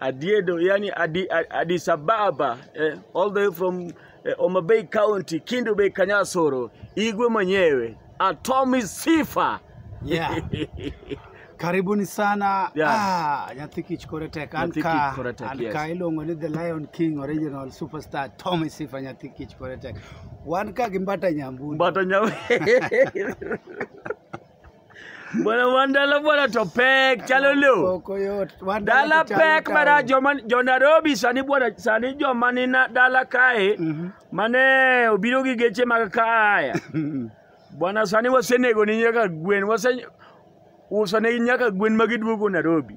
Adiedo, yani Adi, Addis Ababa, eh, all the way from eh, Homa Bay County, Kindu Bay, Kanyasoro, Igwe mwenyewe, Atomi Sifa. Yeah. Karibuni sana. Yeah. Ah, nyathi kich kore tek. An Nyathi ka, kich kore tek, an yes. ka iluongo ni The Lion King original superstar Tommy Sifa nyathi kich kore tek. Wan ka gi mbata nyambuni. Mbata nyawe. Bwana wan dala bwana to pek chalo loo. Oko yot. Wan Dala to chalo pek town. mara joma jo Nairobi sani bwana sani joma ni na dala kae Mhm. mane obiro gi geche mag kaya. Bwana sani wasenego ni nyaka gwen wase uso ne nyaka gwen ma giduogo Nairobi.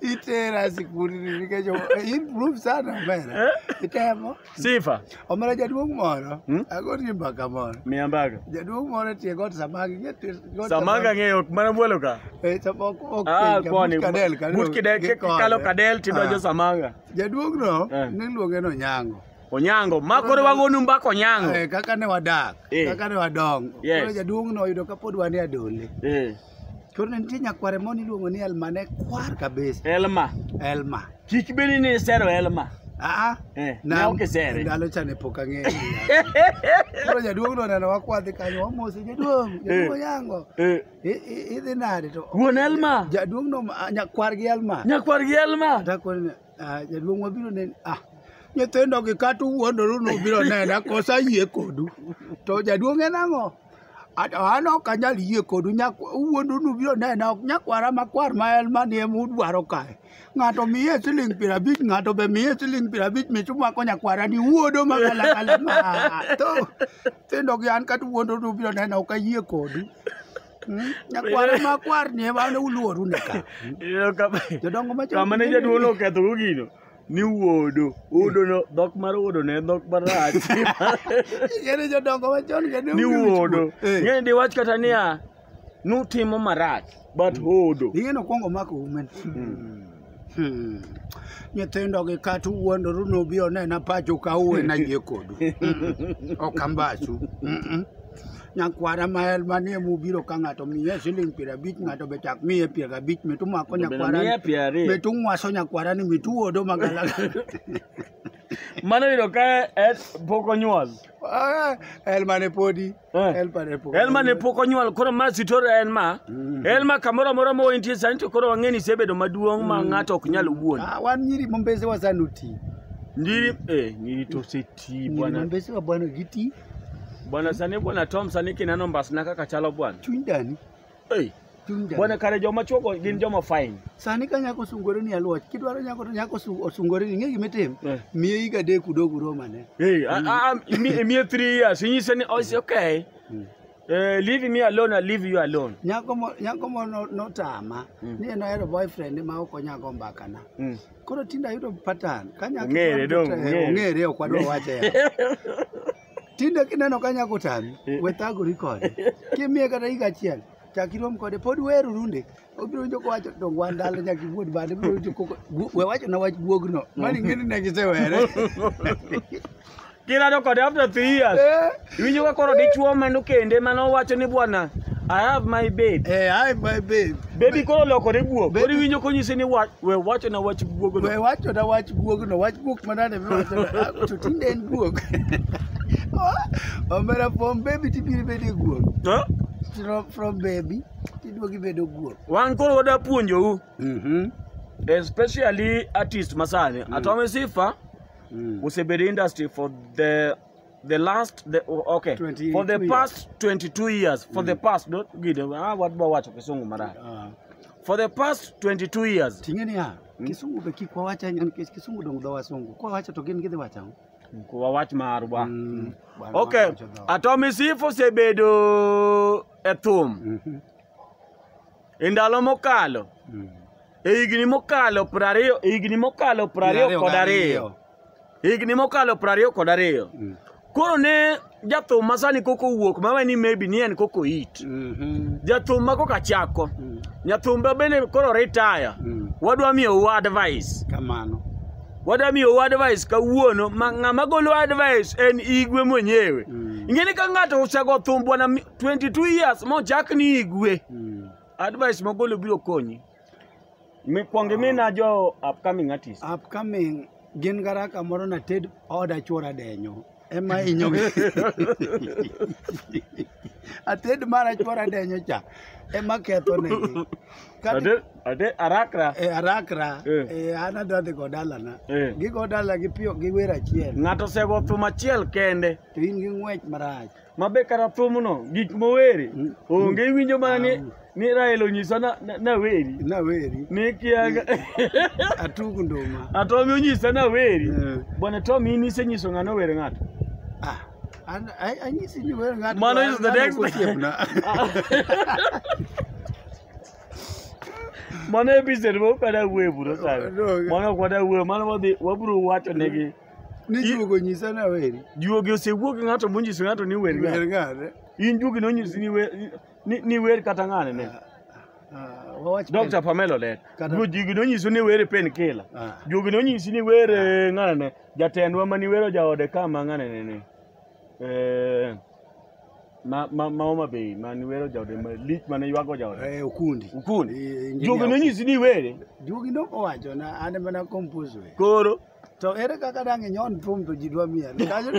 itera sikuli nikech improve sana omera itemo Sifa. omera jaduong' moro Hmm? agoni mbaka moro Mia mbaka. jaduong' moro etie got samaki ng'e tie- got Samaki ang'eyo mana bwolo ka. Eh, sama ok- ok Ah, penja, kwani. but kadel, kadel, But kidel gikone. kalo kadel tidonjo Ah. samanga. jaduong'no Eh. niluonge ni onyango Onyango. Ma koro wagonu mbaka onyango. Eh, kaka ne wadak Eh. kaka ne wadongo Yes. koro jaduong'no oyudo kapod wan e adole Eh. To ne nitie nyakware moro niluongo ni Elma ne kwar kabisa. Elma. Elma. Kik bedi ni isero Elma. Aa, eh, na ok isere. Ndalo cha ne pok ang'eyo. Koro jaduong' no neno wakwadhi kanyo wamosi jaduong', eh. jaduong' yango. Eh. Idhi nade to? Wuon Elma. Jaduong' no nyakwar gi Elma. Nyakwar gi Elma. Takoni Ah, jaduong' wabiro neni ah nyithindo gi kata uwuondoru ni ubiro nena kosa yie kodu to jaduong' en ang'o At- an ok anyal yie kodu nyak- uwuondoru ni ubiro nena ok nyakwara makwar ma en manie mudwaro kae ng'ato miye siling piero abich ng'ato be miye siling piero abich mich umako nyakwara ni wuodo magalagala ma to nyithindo gi an kata uwuondoru ni ubiro nena ok ayie kodu nyakwaro makwar ni ema ne uluoru ne ka jodongo machon kama ne jaduong' noketho go gino ni wuodo wuodo no dhok mar wuodo ne en dhok marach ng'ere jodongo machon ng'e ni wuodo Eh. ng'e ni diwach kata niya nutimo marach but hodo ing'e nokwongo mako umen Hmm. Nyithindo gi kata uwuondoru nobi onena pacho ka uwe na yie kodu. Mm. Ok ambachu. Mm -mm. Nyakwara ma el manie mubiro ka ng'ato miye siling piero abich ng'ato be chak miye piero abich mitu mako nyakwara Miye piero ariyo. mitu ng'waso nyakwara ni mitu wuodo magala. Mano yudo ka eh, pok onyuol. Ah, El mane podi. Eh. Elma ne pok. Elma ne pok onyuol koro ma sitor en ma mm. Elma kamoro amora ma intie sani to koro wang'eni isebedo maduong' ma mm. ng'ato ok nyal wuon. Ah, wan nyiri mombese wasanuti. Ndiri eh nyiri to seti bwana. Mombese wa bwana giti. Bwana sani bwana Tom sani kinano mbasna kaka chalo bwana. Chuny dani. Hey. Bwana kare joma chuogo gin joma fine. Sani ka nyako sungore ni aluoch, kidwaro nyako to nyako osungore ni ng'e gima itim. Eh. Miye higa adek udog uromane. Hey, mm. miye three years, inyise ni oh, okay. Mm. Uh, leave me alone, I leave you alone. Nyako mo nyako mo no, no tama. Mm. Ni no ero boyfriend ma oko nyako mbaka na. Mm. Koro tinda yudo pattern. Kanya ngere dong ngere. Ngere okwadwa wache ya. Tinde kineno ka nyako tami, we thagori kode. Kimiye kata higa achiel, chak irom kode. Pod weru runde. Obiro winjo kowacho to wan dala nyaka iwuod bade. Obiro winjo koko. gu- We wacho na wach guogno. Mani ng'eni ne gisewere. Kilado kode after three years. Eh, Iwinjo ka koro dichuo mano kende mane owacho ni bwana I have my babe. Eh, hi my babe. Baby koro lokore guok. Baby- Koro iwinjo konyisi ni wa- We wacho na wach guogo no. We wacho na wach guog no, wach guok manade miwacho na, ah, to tinde en guok. Omera from baby tibiro bedo guok. Huh? From, from baby tiduogi bedo guok. Wan koro wada puonjou. Mhm. Especially artist masani. Mm. Atome Sifa mm. osebedo industry for the the last the, oh, okay 22 for the years. past 22 years for the past don't gide ah what ba wacho kisungu mara Ah, for the past 22 years ting'e niya kisungu be kik wawacha nikech kisungu dong dho wasungu kwa wacho to gin gidhi wacho ang'o? kwa wach marwa Mm, bwana okay wacho dho. atomisifu sebedo e thum Mhm. e ndalo mokalo Mm. e higni mokalo prariyo e higni mokalo prariyo Prariyo kod gi ariyo e higni mokalo prariyo kod ariyo Mm. koro ne jathum ma sani koko wuok mawe ni maybe ni en koko it Mhm. jathum ma koka chako Mm. nyathumba bende koro retire Mm. wadwa miyou advice Kamano. wadwa miyou advice kawuono ma ng'ama golo advice en igwe mwenyewe Mm. ing'eni ka ng'ato osego thum bwana mi- 22 years mochak ni igwe Mm. advice mogolo biro konyi mikwongi mina jo upcoming artist upcoming gin gara kamoro na ted oda chwora denyo ema hinyo ated mara chwora denyo cha ema ketho negi Kati- Ade- ade arakra e arakra Eh. e an adwa dhi go dalana Eh. gigo dala gi piyo gi wer achiel ng'ato osego thum achiel kende to in gi ng'wech marach ma be kata thumno gik moweri onge iwinjo mana ni ni Rael onyisa na- na- naweri naweri ni kiaga atug nduma Atomi onyisa naweri Eh. bwana Tomi in isenyiso ng'ano wer ng'ato Ah, an- ai- anyisi ni wer ng'ato Mano is the ng'ano next- kosiepna. mano episode mokada wuoye buro sani No. mano ok wadawuoye mano wadhi wabiro wacho negi Ni I- juogo nyisa na weri. Juogi osewuok gi ng'ato monyiso ng'ato ni wer Wer ng'ane. ng'ane. In juogi nonyisi ni wer ni, ni wer kata ng'ane ne. Ah, wawach Dr. Pamela Olet. Kata- Juogi nonyiso ni wer pen kila. Ah. Juogi nonyisi ni wer eh, ng'ane ne. Jatendwa mani wero jaode ka ma ng'ane ne ne. Eh ma ma ma Homa Bay mani wero jaode ma lich mane ywago jaode. Eh, okundi. Ukundi. Eh, engineer Juogi nonyisi ni were. Juogi nok owacho na an mana compose we. Koro To ere kaka dang' inyon thum to ji dwa miel? Kanyo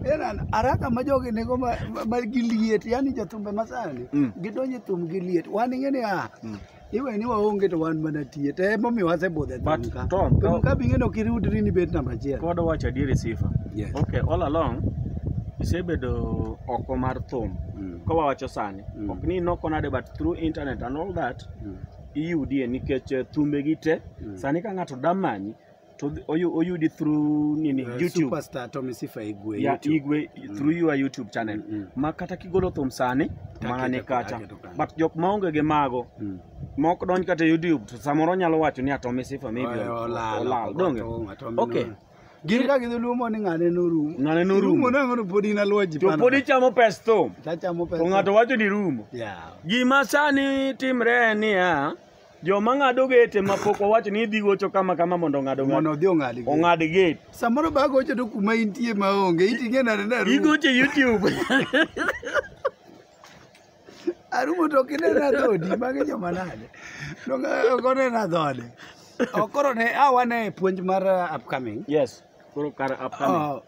en an araka ma jogi nego ma, ma, ma gi liet yani jothumbe masani Mm. gidonje thum gi liet wan ing'e ni ah Mm. iwe ni waonge to wan mana tie to emomiyo wasebudhe But, thum ka Tom, thum Tom- ka bing'eno ok iriwdri ni bet namba achiel Pod wacho adieri sifa. Yes. Okay, all along isebedo oko mar thum. Mm. Ka wawacho sani, Mm. ok ni noko nade but through internet and all that, Mm. iyudie nikech eh, thumbegi te Mm. sani ka ng'ato da manyi to dhi- oyu- oyudi through nini Eh, youtube superstar Tommy Sifa Igwe ya YouTube. igwe through your youtube channel Mm, mm. ma kata kigolo thum sani Take mana ni it, kacha take it, okay. but jok maonge gi mago Mm. mok donj kata e youtube to samoro nyalo wacho ni atomi sifa maybe Oe, ol- olal, olal, donge? oto, ng'ato mino- okay Gin ka gidhi lumo ni ng'ane norumo. Ng'ane norumo. Rumo nang'o to pod in aluwa ji To pod ichamo pes thum. Tachamo pes. To ng'ato wacho ni rumo. Yeah. Gima sani timre en niya, joma ng'ado gate ma pok wawacho ni idhi gocho kama kama mondo ong'ad ong'ad. Mondo odhi ong'ad gate. Ong'ad gate. Samoro ba gocho to kuma intie ma onge, iting'e nade na rumo. Igocho YouTube. arumo to kinena dhodi magi joma nade okonena dhode okoro ne awane puonj mar uh, upcoming yes koro kar upcoming uh,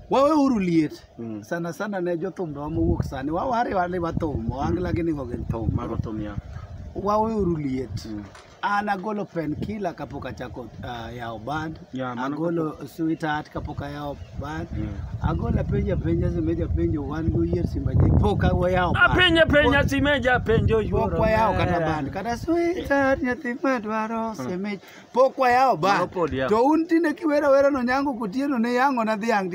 wawe uru liet mm. sana sana ne jothum do mowuok sani wawari wani wathum oangla mm. gini go gin thum mago thum ya wawe uru liet mm. An agolo penkila kapok achako uh, yawo band. Yeah, mano agolo sweetheart kapok ayawo band. Mm. Agolo apenja penja simeja penjo wan go yie simba je pok awo yawo band. Apenja penja simeja penjo yuoro. Pok wayawo kata band kata sweetheart nyathi madwaro hmm. simeja. Pok wayawo band. To un tinde kiwero wero no nyango kotieno ne yango na dhiang'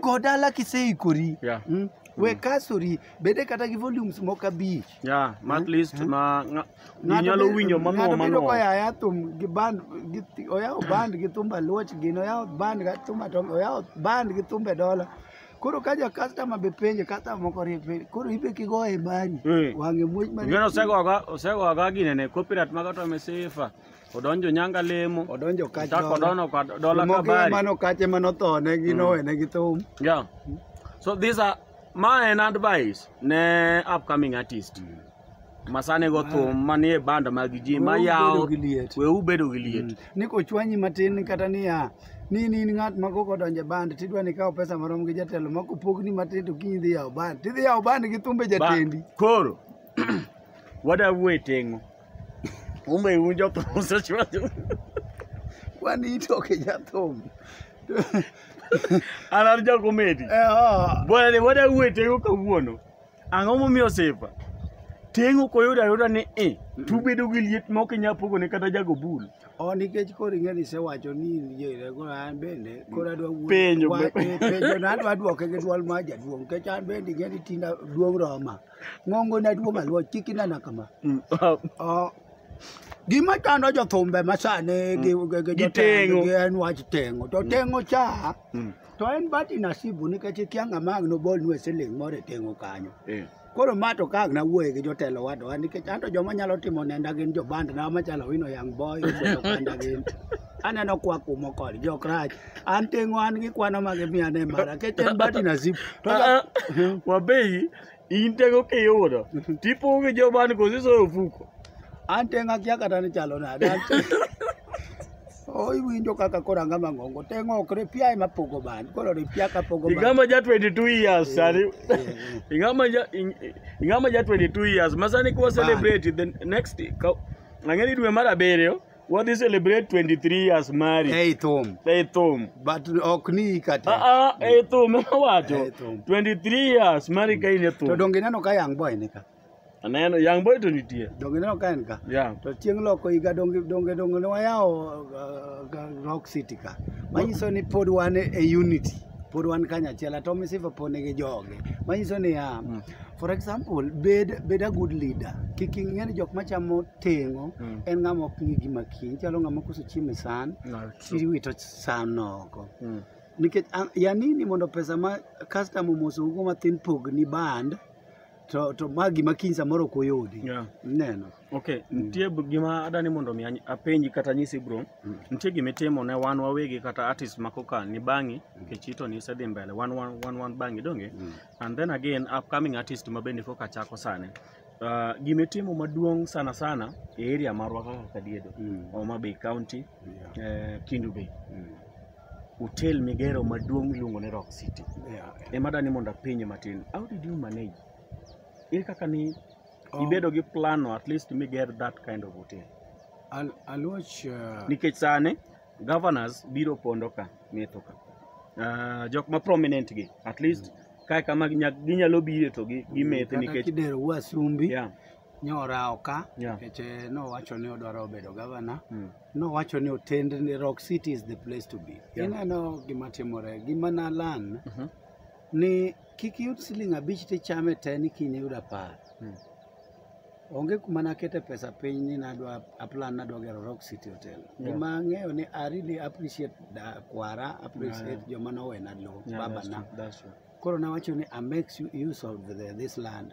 go dala kiseikori Yeah. mm. we kasori bede kata gi volumes moko abich Yeah, ma at least ma nga- ji Ng'ato nyalo be- winjo mano ng'ato bedo mano. koyaya thum gi band gi thi- oyawo band gi thumba luoch gini oyawo band gi thumba tom oyawo band gi thumbe dola koro ka ja customer be penje customer moko rie penje koro ibe kigoye mari Eh. wang'e muoch mari Ngeno osegoga osegoga ginene copyright maga to mesifa. odonjo nyanga lemo odonjo kach chako dola. dono ka dola Moko kabari mano kache mano thone gi nowene gi thum yeah so these are ma en advice ne upcoming artist masane go thum manie band mag ji ma Weuru yawo bedo gi liet. we ubedo gi liet ni kochwanyi matin kata niya ni ni in ng'at ma koko donje band tidwa ni kawo pesa marom gi jatelo ma kopogni matin to kiny idhi yawo band tidhi yawo band gi thumbe Ba- jatendi koro wadawu e tengo Kumbe un jothum osechwanyo. Kwani itoke jathum. An an ja komedi. Eh, oh. Bwana ni wada uwe tengo kawuono. Ang'o momiyo sifa? Tengo koyudo ayuda ni e. Tubedo gi liet ma ok inyal pogo ne kata jago bul. Oh, nikech koro ing'e ni isewacho ni yere koro an bende koro adwa wuoyo. Penjo. Wa- eh, penjo na adwa duoke gi dwol mar jaduong' nikech an bende ing'e ni tinda duong' roma. Ng'ongo na duo malwa kik inena kama. Mm. Oh. Gima chando jothumbe masani gi gi- gi Gitengo. jotendgi en wach tengo. To tengo cha Mm. to en bati nasibu nikech ikia ng'ama ang' nobolnu e siling moro e tengo kanyo. Eh. Koro ma to ka ang' nawuoye gi jotelo wadwa nikech anto joma nyalo timo nenda gin jobandna machalo wino young boy, Obodo Kanda gin. Aneno kwa kumo kod jokrach. an tengo an gi kwano ma gimiya ne mara kech en bati na zip to Ah, ah. wabeyi in tego kiyudo tipo gi joban kosi soyo ofuko an tengo akia kata ni chalo nade An tengo- o iwinjo kaka koro anga mang'ongo tengo ok ripia ema pogo ban koro ripia ka pogo ban ingama ja 22 years sani ingama ja ing- ingama ja 22 years masani kwa celebrate the next ka- ang'eni dwe mar abiriyo Wadhi celebrate 23 years married. Ei thum. Ei thum. But ok ni hika te. Ah ah, ei thum ema wacho. Ei thum. 23 years married ka in e To thum. donge ineno ka young boy ni ka? Aneno young boy to nitie. Donge ineno ka en ka? Yeah. To chieng' loko higa donge donge donge ne wayawo uh, ga- Rock City ka. Manyiso ni pod wan e e unity. Pod wan kanyachiel. Ato misifa pod nigi joge. Manyiso ni ya. For example, bed bed a good leader. Kik ing'e ni jok machamo teng'o Mm. en ng'ama ok ng'i gima kiny chalo ng'ama koso chiemo e san No, true. tiwito san oko Mm. nikech a- ya nini mondo pesa ma customer omosougo mathin pogni band to, to ma gima kiny samoro ok oyudi Yeah. neno Okay, nitie b- gima adani mondo mi any- apenji kata nyisi bro. Mm. Nitie gima itimo ne wan wawegi kata artist ma koka ni bangi kichito ni isedhi mbele wan wan wan wan bangi donge. And then again upcoming artist ma bende koka chako sani. Uh, gima itimo maduong' sana sana e area marwa kaka Kadiedo, Mm. Homa Bay County, Yeah. eh, Kindu Bay. Mm. Hotel migero maduong' miluongo ni Rock City. Yeah. Ema dani mondo apenye matin. How did you manage? Ere kaka ni Um, ibedo gi plan no at least miger that kind of hotel. Al- Aluoch uh, Nikech sani governors biro pondo ka metho ka. Uh, jok ma prominent gi at least Kae kama ginya- ginyalo bire to gi- gimethi Kata nikech kidero wasumbi yeah. nyorawo ka Yeah. nikech eh, nowacho ni odwaro bedo gavana Mm. nowacho ni otend ni rock city is the place to be Yeah. ineno gima timore gima nalan Mhm. ni kik iyud siling abich tichame te ni kiny iyud apar Mm. Onge kuma nakete pesa piny ni nadwa aplan nadwa gero Rock City Hotel. Yeah. Gima ang'eyo ni I really appreciate da kwara, appreciate yeah, yeah. joma nowena lowo, yeah, babana. Koro nawacho ni I make you use of the, this land.